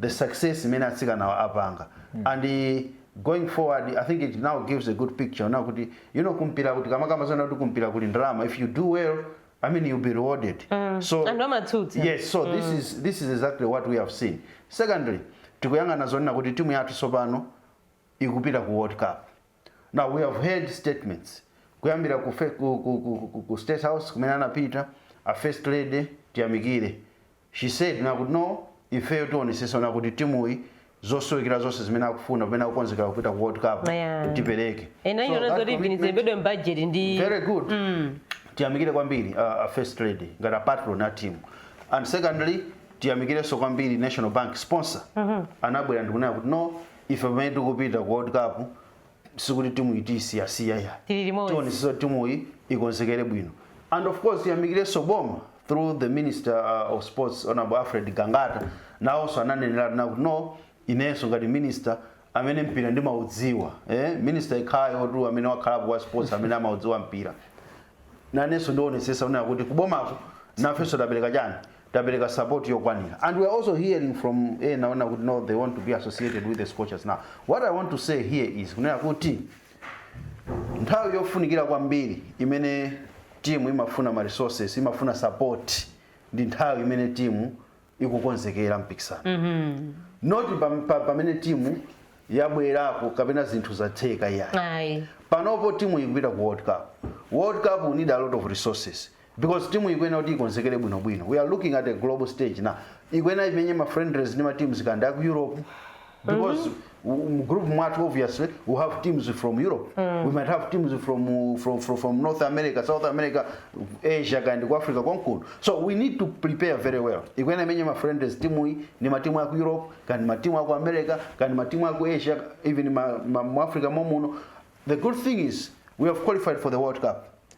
the success imene atsikanawa apanga and going forward i think it now gives a good picture now kuti you know kumpira kuti tikamakamba zonena kuti kumpira kuli ndalama if you do well i mean you'll be rewarded so Anthu amatsutsa. yes so this is this is exactly what we have seen secondly tikuyang'ana zonena kuti timu yathu tsopano ikupita ku world cup now we have heard statements kuyambira ku, fe- ku, ku, ku, ku, ku state house kumene anapita a first lady tiyamikire She said kunena kuti no ifeyo tionesesa kunena kuti timuyi zosowekera zonse zimene akufuna pamene akukonzekera kupita ku world cup Yeah. tipereke And I So know that that's a commitment- igwirizidwe mu budget ndi very good tiyamikire kwambiri uh, a first lady ngati a patron a team and secondly tiyamikirenso kwambiri national bank sponsor anabwera ndikunena kuti no ife pamene tikupita ku world cup sikuti timuyi tiyisiyasiya ayi Tili limodzi. tionetsetsa kuti timuyi ikonzekere bwino and of course tiyamikirenso boma through the minister uh, of sports honorable alfred gangata nawonso ananenera kunena kuti no inenso ngati minister amene mpira ndimaudziwa eh? minister yekhayotu amene wakhalapo wa sports amene amaudziwa mpira nanenso ndionetsetsa kunena kuti kubomako nafenso tapereka chani tapereka support yokwanira and we are also hearing from ena ona kuti no they want to be associated with the scorchers now what i want to say here is kunena kuti nthawi yofunikira kwambiri imene timu imafuna ma resources imafuna support ndi nthawi imene timu ikukonzekera mpikisano not pam- pa- pamene timu yabwerako kapena zinthu zatheka yayi ayi panopo timu ikupita ku world cup world cup you need a lot of resources because timu ikuyenera kuti ikonzekere bwinobwino we are looking at a global stage na ikuyenera imenye ma friendlies ndi ma teams kandi aku europe because mu group mwathu obviously we have teams from europe we might have teams from, from, from, from north america south america asia kandi ku africa konkuno so we need to prepare very well ikuyenera imenye ma friendlies timu iyi ndi matimu aku europe kandi matimu aku america kandi matimu aku asia even ma, ma, mu africa momuno the good thing is we have qualified for the world cup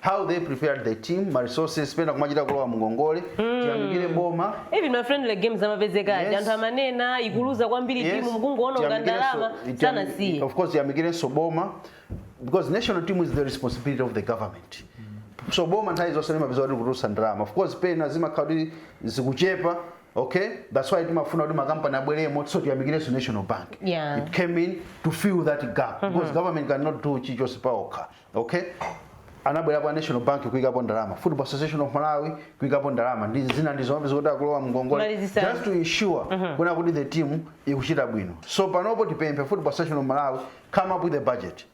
how they prepared the team ma resources pena kumachita kulowa mungongole tiyamikire boma even ma friendly games amapezeka aja Yes. anthu amanena ikuluza kwambiri Yes. timu mukungoona ngati Tiyamikirenso- ndalama tiyami- sanasiye of course tiyamikirenso boma because national team is the responsibility of the government so boma nthawi zonse limapezeka kuti likutulutsa ndalama of course pena zimakhala kuti zikuchepa okay that's why timafuna kuti makampani abweremo so tiyamikirenso national bank Yeah. it came in to fill that gap because government cannot do chichonse paokha okay anabwera kwa national bank kuikapo ndalama football association of malawi kuikapo ndalama ndi zina ndi zomwe zikuti akulowa mngongole Kunali zisanu. just to ensure kunena kuti the team ikuchita bwino so panopo tipemphe football association of malawi come up with a budget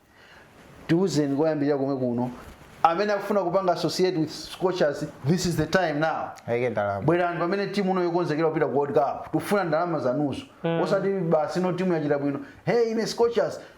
tiuzeni koyambirira komwe kuno amene akufuna kupanga associate with scorchers this is the time now ayike ndalama bwerani pamene timu ino ikukonzekera kupita ku world cup tikufuna ndalama zanuzo osati basi no timu yachita bwino hey ine scorchers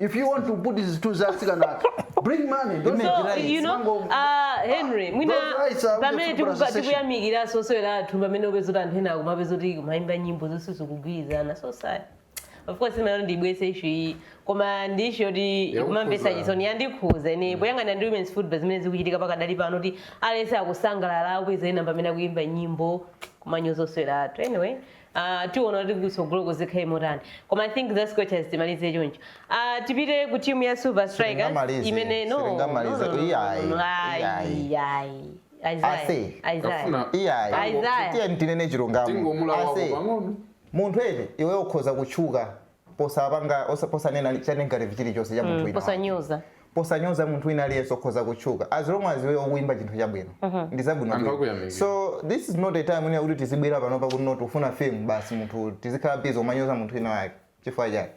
if you want to put zinthu za atsikana athu bring money don't Image so right. you know Mango- uh, henry mwina Those rights are pamene with the tikuka- association. tikuyamikiranso osewera athu pamene upeza kuti anthu ena akumapezeka kuti kumayimba nyimbo zoti sizikugwirizana so sad of course ine ndibweze issue iyi koma ndi issue yoti Yakukhuza. ikumamvesa chisoni yandikhuza ine poyang'ana ndi women's football zimene zikuchitika pakadali pano kuti aliyense akusangalala akupeza ena pamene akuyimba nyimbo kumanyoza osewera athu anyway Uh, tiona kuti kutsogoloko zikhale motani koma i think za scorchers timalize choncho uh, tipite ku timu ya silver strikers Sitingamalize, imene no, no, no, sitingamalize. no, no, Iyayi, no, no, ayi, iyayi. ayi. Isaiah, Ase. Isaiah. Kafuna. iyayi Isaiah. tiyeni tinene chilungamo Tingomulawa Ase, pang'ono. munthu eti iwe ukhoza kutchuka posapanga osa- posanena cha negative chilichonse cha munthu Mm, wina posanyoza posanyoza munthu wina aliyense ukhoza kutchuka as long as iwe ukuimba chinthu chabwino ndi zabwino Anthu bwino. akuyamikira. so this is not a time ine kuti tizibwera pano pakuti not ufuna fame basi munthu tizikhala busy kumanyoza munthu wina wake chifukwa chake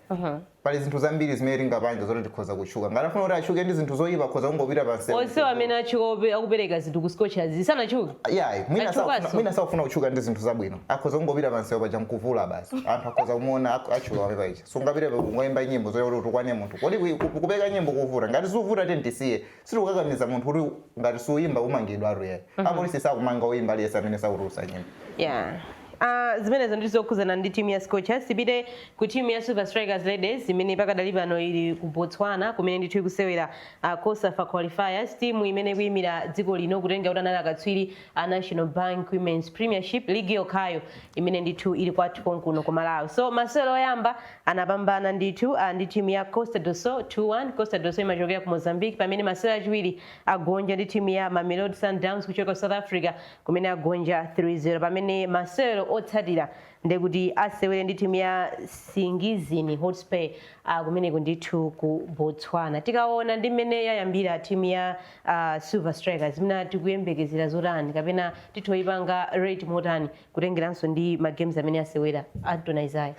pali zinthu zambiri zimene tingapange zoti tikhoza kutchuka ngati afuna kuti atchuke ndi zinthu zoyipa akhoza kungopita pamsewu onsewo amene atchuka ope- akupereka zinthu ku scorchers sanatchuke yayi mwina Atchukanso. sakufuna- mwina sakufuna kutchuka ndi zinthu zabwino akhoza kungopita pamsewu paja nkuvula basi anthu akhoza kumuona ak- atchuka wake paja sungapite kukangoyimba nyimbo zoti utukwane munthu kodi kui- ku- kupeka nyimbo kukuvuta ngati siuvuta tiye tisiye sitikukakamiza munthu kuti ngati siuyimba umangidwa iyayi apolisi sakumanga oyimba aliyese amene sakutulusa nyimbo yeah Uh, zimenezo ndi zokhudzana ndi timu ya scorchers tipite ku timu ya silver strikers ladies imene pakadali pano ili ku botswana kumene ndithu ikusewera uh, cosafa qualifiers timu imene ikuyimira dziko lino kutengera kuti anali akatswiri a national bank women's premiership league yokhayo imene ndithu ili kwathu konkuno ku malawi so masewero oyamba anapambana ndithu uh, ndi timu ya costa do sol 21 costa do sol imachokera ku mozambique pamene masewero achiwiri agonja ndi timu ya mamelodi sundowns kuchoka ku south africa kumene agonja 30 pamene masewero otsatira ndekuti asewere ndi timu ya nsingizini hotspur uh, kumeneko ndithu ku botswana tikaona ndi mmene yayambira timu ya a silver strikers mwina tikuyembekezera zotani kapena titha kuipanga rate motani kutengeranso ndi ma games amene asewera anton isaya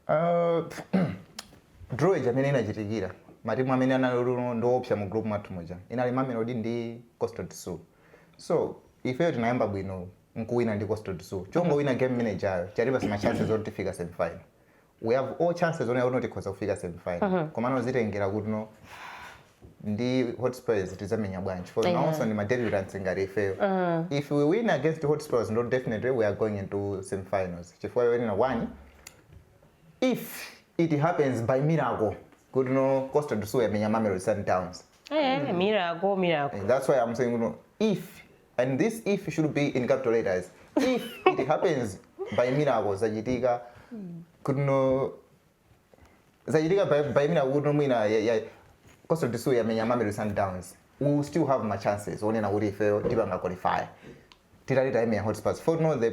Uh, draw ija imene inachitikira matimu amene anali kuti no ndiopsa mu group mwathu muja inali mamelodi ndi costa do sol so ifeyo tinayamba bwino nkuwina ndi costa do sol chongowina game imene ijayo chatipasa ma chances oti tifika semifinal we have all chances onena kuti tikhoza kufika semifinal komano zitengera kuti no ndi hotspurs tidzamenya bwanji for Yeah. nawonso ndi ma debutants ngati ifeyo if we win against hotspurs ndo definitely we are going into semifinals chifukwa yonena one if it happens by miracle kuti no costa do sol yamenya mamelodi sundowns Eh, miracle miracle And that's why I'm saying, you know, if and this if should be in capital letters if it happens by miracle zachitika kuno zachitika by, by miracle kuti no mwina ya- ya- costa do sol yamenya mamelodi sundowns we will still have ma chances onena kuti ifeyo tipanga qualify titati tayimenya hotspurs for no the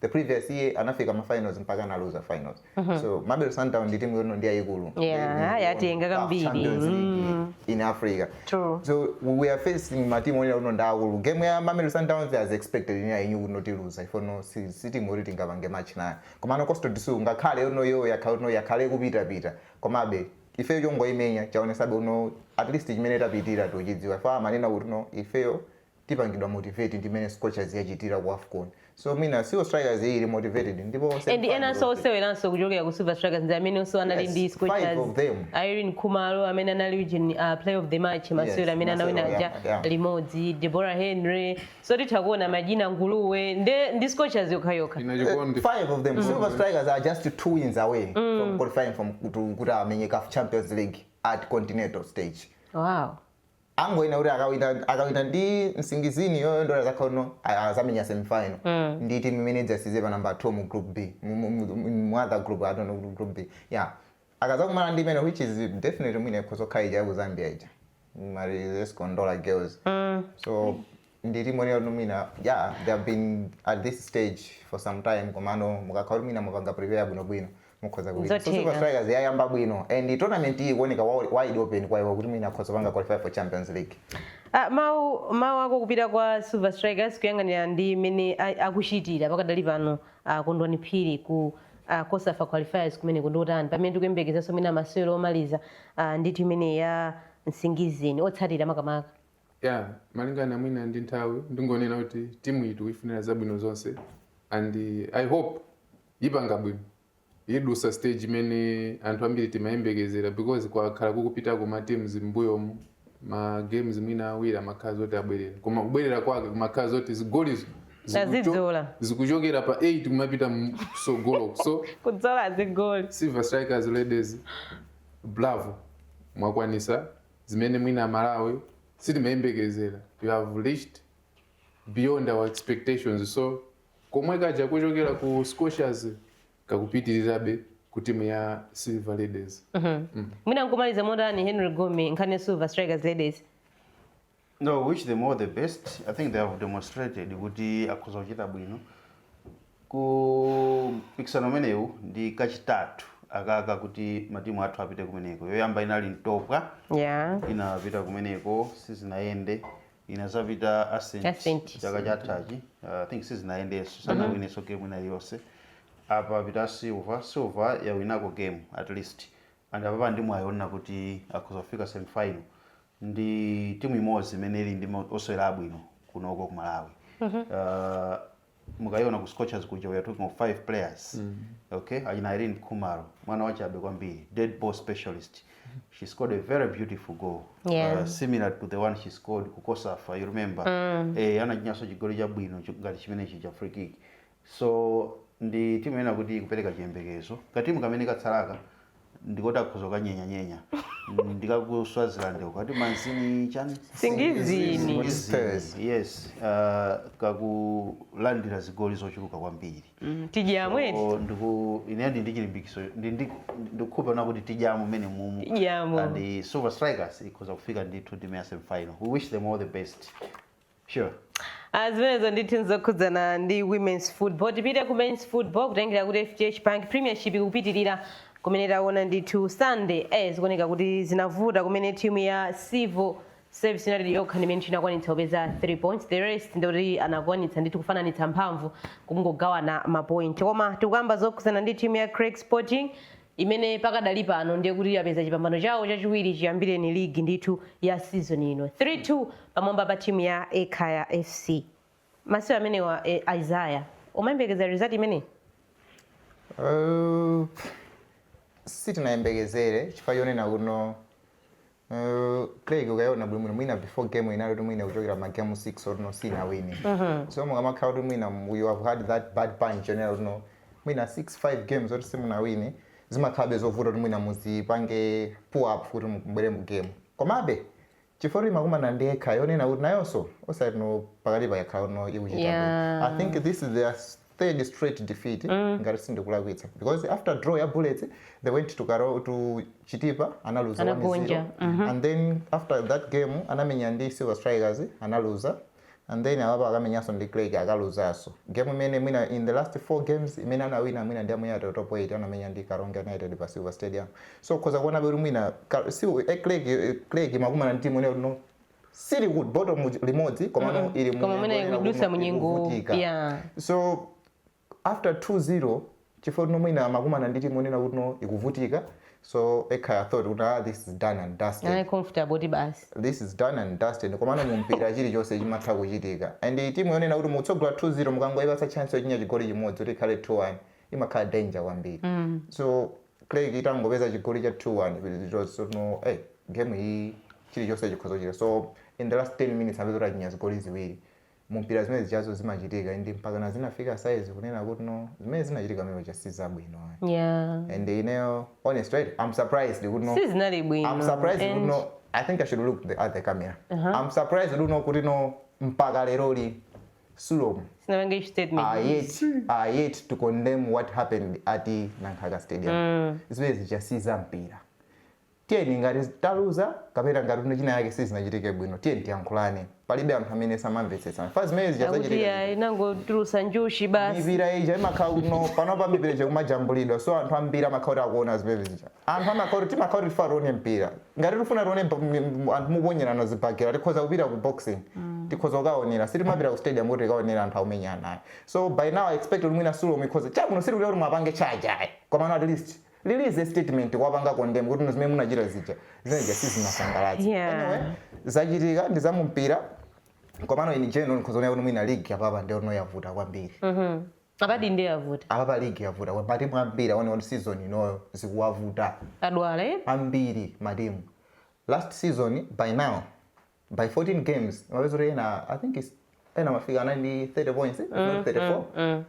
the previous year anafika ma finals mpaka analuza finals so mamelodi sundowns ndi timu yoti no ndi yayikulu Yeah, They- they won yatenga CAF kambiri. Champions League in africa True. so we are facing matimu onena kuti no ndaakulu game ya mamelodi sundowns as expected ine I knew kuti no tiluza ifono si si timu yoti tingapange match nayo komano costa do sol ngakhale yono yo yakhale no yakhala ikupitapita komabe ifeyo chongoimenya chaonesabe kuti no at least chimene tapitira tochidziwa fa amanena kuti no ifeyo tipangidwa motivate ndi mmene scorchers yachitira ku afcon so mwina silver strikers iyi ili motivated ndipo onse and ndi fans enanso of- oseweranso kuchokera ku silver strikers ndi amenenso anali Yes, ndi five scorchers of them. ireen khumalo amene anali region uh, player of the match masewera amene masewero anawina aja oyamba, yeah. limodzi deborah henry so titha kuona madyina nguluwe nde ndi scorchers yokhayokha ina chikondi five of them silver strikers are just two wins away from qualifying from to- kuti amenye caf champions league at continental stage wow angoyenera kuti akawina akawina ndi nsingizini yoyondola zakhono azamenya semifinal mm. ndi timu imene idzatsirize pa namba 2 mu group b mu other group i don't know group b yeah akazakumana ndi imene which is definitely mwina ikhozokhala ija ya ku zambia ija amati zesco ndola girls mm. so ndi timu yoti mwina yeah they have been at this stage for some time komano mukakhala kuti mwina mwapanga prepare bwinobwino mukhoza kuwina so Nzotheka. silver strikers yayamba bwino and tournament iyi ikuoneka wa- wide open kwa iwo kuti mwina akhoza kupanga qualify for champions league Ah, mawu mawu ako kupita kwa silver strikers kuyang'anira ndi mmene a- akuchitira pakadali pano ah, kondwani phiri ku ah, cosafa qualifiers kumene ndi kotani pamene tikuyembekezanso mwina masewero omaliza ah, ndithu ndi timu ya nsingizini otsatira makamaka Yeah, malingana mwina ndi nthawi ndingonena kuti timu iyi tikuifunira zabwino zonse and uh, i hope ipanga bwino idusa stage imene anthu ambiri timayembekezera because kwakhala kukupitako ma teams m'mbuyomu ma games mwina awiri amakhala zoti abwerera koma kubwerera kwake kumakhala zoti zigolizo zikucho- Tazidzola. zikuchokera pa 8 kumapita msogolo so kudzola zigoli silver strikers ladies bravo mwakwanisa zimene mwina aMalawi sitimayembekezera, you have reached beyond our expectations so komwe kaja kuchokera ku Scorchers kakupitirirabe ku timu ya Silver Ladies. Mhm. Mm. Mwina nkumaliza motani Henry Gome nkhani ya Silver Strikers Ladies. No, wish them all the best. I think they have demonstrated kuti akhoza kuchita bwino ku mpikisano umenewu ndi kachitatu akaka kuti matimu athu apite kumeneko. Yoyamba inali ntopwa Yeah. inapita kumeneko sizinayende inazapita Ascent. ascent chaka chathachi uh, i think sizinayendenso sanawinenso game ina yonse apa papita silver silver yawinako game at least and apapa ndimayiona kuti akhoza kufika semifinal ndi timu imodzi imene ili ndi ma- osewera abwino kunoko ku malawi uh, mukayiona ku scorchers kuja we are talking of five players okay achina irene khumalo mwana wachabe kwambiri dead ball specialist she scored a very beautiful goal Yeah. uh, similar to the one she scored ku cosafa you remember eh, anachinyaso chigoli chabwino chi- ngati chimenechi cha free kick So ndi timu ina kuti ikupereka chiyembekezo. Ka timu kamene katsalaka ndikoti akhoza kukanyenya nyenya ndi ka ku Swaziland uko akuti manzini chani Singizini. Singizini. Yes, uh, kakulandira zigoli zochuluka kwambiri. Mm, tidyamo eti. So, ndiye ine ndi ndichilimbikiso ndi ndi ndikhulupirira kuti tidyamo mmenemumu Tidyamo. and the Silver Strikers ikhoza kufika ndithu ndime ya semi final. We wish them all the best. sure Ah, zimenezo ndithu nzokhudzana ndi women's football tipite ku men's football kutengera kuti fdh bank premiership ikupitirira kumene taona ndithu sunday eh, zikuoneka kuti zinavuta kumene timu ya civil service united yokha ndimene ndithu inakwanitsa kupeza 3 points the rest ndikuti anakwanitsa ndithu kufananitsa mphamvu kungogawana mapoint koma tikuyamba zokhudzana ndi timu ya creck sporting imene pakadali pano ndiye kuti yapeza chipambano chawo chachiwiri chiyambireni ligi ndithu ya season ino 3-2 pamwamba pa timu ya Ekhaya FC masiku amenewa eh, Isaiah umayembekeza result imeneyi Uh, sitinayembekezere chifukwa chonena kuno Creck ukaiona bwinobwino mwina before game inali kuti mwina kuchokera ma game 6 oti no sinawine so mukamakhala kuti mwina you have had that bad patch yonena kuti no mwina 6 5 games oti simunawine zimakhalabe zovuta kuti mwina muzipange pull up kuti mubwere mu game komabe chifukwa kuti imakumana ndi Ekhaya yonena kuti nayonso osati no pakatipa yakhala kuti no ikuchita Yeah. bwino. i think this is their s- third straight defeat ngati sindikulakwitsa because after draw ya bullets they went to, Karo, to chitipa analuza Anagonja, 1-0 and then after that game anamenya ndi silver strikers analuza and then awapa akamenyanso ndi creck akaluzanso game imene mwina in the last four games imene anawina mwina ndi ya mu airtel top 8 anamenya ndi karonga united pa silver stadium so ukhoza kuonabe kuti mwina Ka- si- eh, creck eh, creck imakumana ndi timu yonena kuti no sili ku bottom limodzi komano mm -hmm. ili koma mene ikudutsa munyengo yeah so after 2-0 chifukwa kuti no mwina amakumana ndi timu yonena kuti no ikuvutika so ekhaya thought kuti ah, this is done and dusted Anali comfortable kuti basi this is done and dusted komano mu mpira chilichonse chimatha kuchitika and timu yonena kuti mutsogola 2-0 mukangoyipatsa chance yochinya chigoli chimodzi kuti ikhale 2-1 imakhala danger kwambiri mm. so Creck itangopeza chigoli cha 2 1 it was kuti no ei game iyi chilichonse chikhoza kuchitika so in the last 10 minutes apeza kuti achinya zigoli ziwiri mu mpira zimene zijazo zimachitika and mpakana zinafika size kunena kuti no zimene zinachitika pamene paja si zabwino ayi yeah and ineyo honestly i'm surprised kuti no sizinali I'm bwino surprised kuti and no. I think I should look the, at the camera. I'm surprised to know kuti no mpaka leroli sulom sinapange issue statement are yet, are yet to condemn what happened at nankhaka stadium mm. zimene zija si za mpira tiyeni ngati taluza kapena ngati no chinachake sizinachitike bwino tiyeni tiyankhulane palibe anthu amene samamvetsetsana fa zimene zija akuti zachitika ayi nangotulutsa njuchi basi mipira ija imakhala kuti no panopa mipira ija ikumajambulidwa so anthu ambiri amakhala kuti akuona zimene zija Anthu amakhala kuti timakhala kuti tifuna tione mpira. Ngati tifuna tione bo- m- m- anthu mukuponyerana zibhakera tikhoza kupita ku boxing. Tikhoza kukaonera. Sitimapita ku stadium kuti tikaonere anthu akumenyana ayi. So by now I expect kuti mwina sulom ikhoza. Chabwino sitikuti kuti muwapange charge ayi. Komano at least release a statement kuwapanga condemn kuti zimene munachita zija. Zimene zija sizinasangalatse. Yeah. Anyway, zachitika ndi zamumpira komano in general mukhoza kuona kuti mwina league apapa ndiyo yavuta kwambiri Apadi nde yavuta. Apapa league yavuta kwambiri matimu ambiri akuoneka kuti season inoyo zikuwavuta Tadwala eti. ambiri matimu last season by now by 14 games umapeza kuti ena i think is ena amafika anali ndi 30 points if not 34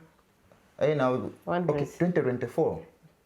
ena okay 100. 2024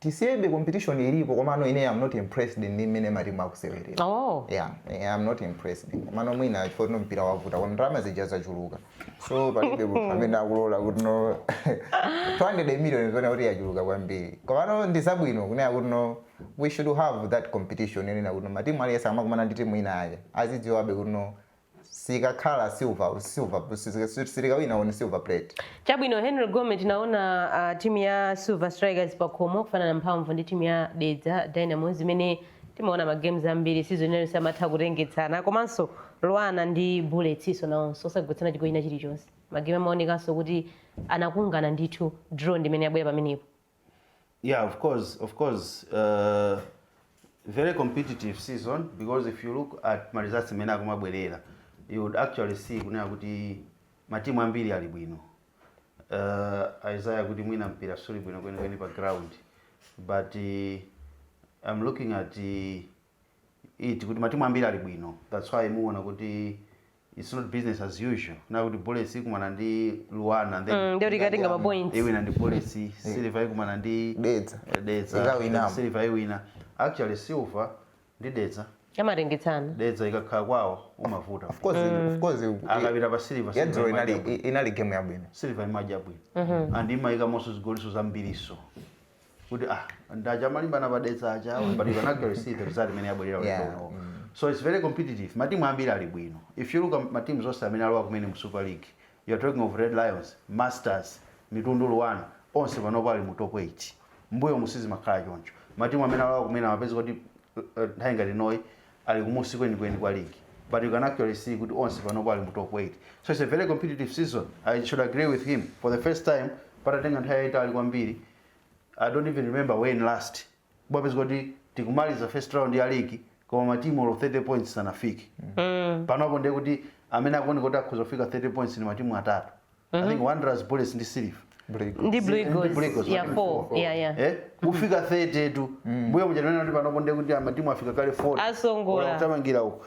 Tisiyebe competition ilipo komano ineyo I'm not impressed ndi mmene matimu akusewerera. Oh. Yeah, eh, I'm not impressed. Komano mwina chifukwa choti no mpira wavuta kono ndalama zija zachuluka. So palibe munthu amene akulola kuti no 200 million zoona kuti yachuluka kwambiri. Komano ndi zabwino kunena kuti no we should have that competition yonena kuti no matimu aliyense amakumana ndi timu ina yake. Azidziwabe kuti no sikakhala silver silver sitikawina on silver plate Chabwino Henry Gome tinaona uh, timu ya Silver Strikers pakhomo kufanana mphamvu ndi timu ya Dedza Dynamos imene timaona ma games ambiri season inayo samatha kutengetsana komanso Luana ndi Bulletsinso nawonso osagoletsana chigoli china chilichonse. Magame amaonekanso kuti anakungana ndithu draw ndi imene yabwera pamenepo. Yeah, of course, of course. Uh, very competitive season because if you look at ma results imene akumabwera you would actually see kunena kuti matimu ambiri ali bwino uh, isaiah kuti mwina mpira suli bwino kwenikweni pa ground but uh, i'm looking at uh, it kuti matimu ambiri ali bwino that's why muona kuti it's not business as usual na kuti bullets ikumana ndi luana and then Mm, ndiye tikatenga ma points. iwina ndi bullets silver ikumana ndi Dedza. eh, dedza Ikawinamo. then silver iwina actually silver ndi dedza amatengetsana dedza ikakhala kwawo umavuta Of course, of course, i- akapita pa silver ya dzulo inali i- inali game yabwino silver imachita bwino and imayikamonso zigoli zambirinso kuti ah ndi aja amalimbana pa Dedza aja awa, but you can actually see the result imene yabwera ulendo Yeah, unowo so it's very competitive matimu ambiri ali bwino if you look at matimu onse amene alowa kumene mu super league you are talking of red lions masters mitundu luana onse panopo ali mu top 8 mbuyomu sizimakhala choncho matimu amene alowa kumene amapeza kuti uh, uh, nthawi ngati inoyi ali kumunsi kwenikweni kwa league but you can actually see kuti onse panopo ali mu top 8 so it's a very competitive season i should agree with him for the first time patatenga nthawi yayitali kwambiri i don't even remember when last kupezeka kuti tikumaliza first round ya league koma matimu olo 30 points sanafike mm. panopo ndiye kuti amene akuoneka kuti akhoza kufika 30 points ndi matimu atatu mm -hmm. i think wanderers bullets ndi silver ndi blue eagles yeah 4 yeah yeah eh kufika 30 tu mm. mbuyo muja kunena kuti panopo ndiye kuti matimu afika kale 40 atsogola kuthamangira uko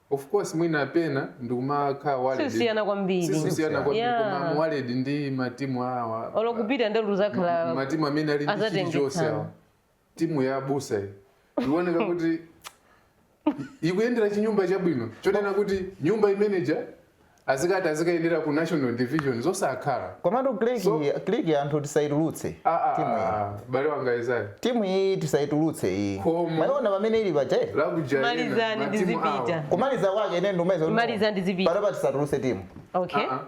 Of course mwina pena ndikumakhala worried. Sikusiyana kwambiri. Sikusiyana kwambiri Yeah. koma I'm worried ndi matimu awa. Olo kupita ndithu uzakhala matimu amene ali ndi azatengetsana. chilichonse awa. Timu ya abusa iyi. Ikuoneka kuti ikuyendera chinyumba chabwino. Chonena kuti nyumba imeneja azikati azikayendera ku national division zosakhala komatu click So- iyi- click iyi anthu tisayitulutse Ah, ah, timu iyi ah, m'bale wanga Isaiah timu iyi tisayitulutse iyi Koma. mwayiona pamene ili paja eti? lakujaena Malizani ndi matimu awo. zipita. kumaliza kwake ine ndimaliza Kumaliza ndi zipita. panopa tisatulutse timu okay Ah,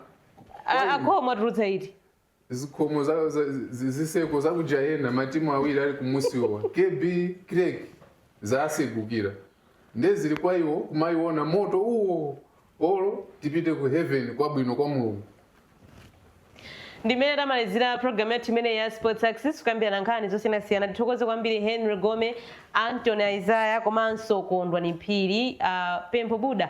ah. A- akhomo atulutsa iti zikhomo ziseko za ku jayena matimu awiri ali kumusiwa kb creck zasegukira nde zili kwa iwo kumayi ona moto uwo olo tipite ku heaven kwabwino kwa mulungu ndimene tamalizira programu yathu imene ya sports access kukambirana nkhani zosiyanasiyana tithokoze kwambiri henry gome antony isaya komanso kondwani phiri uh, pempho buda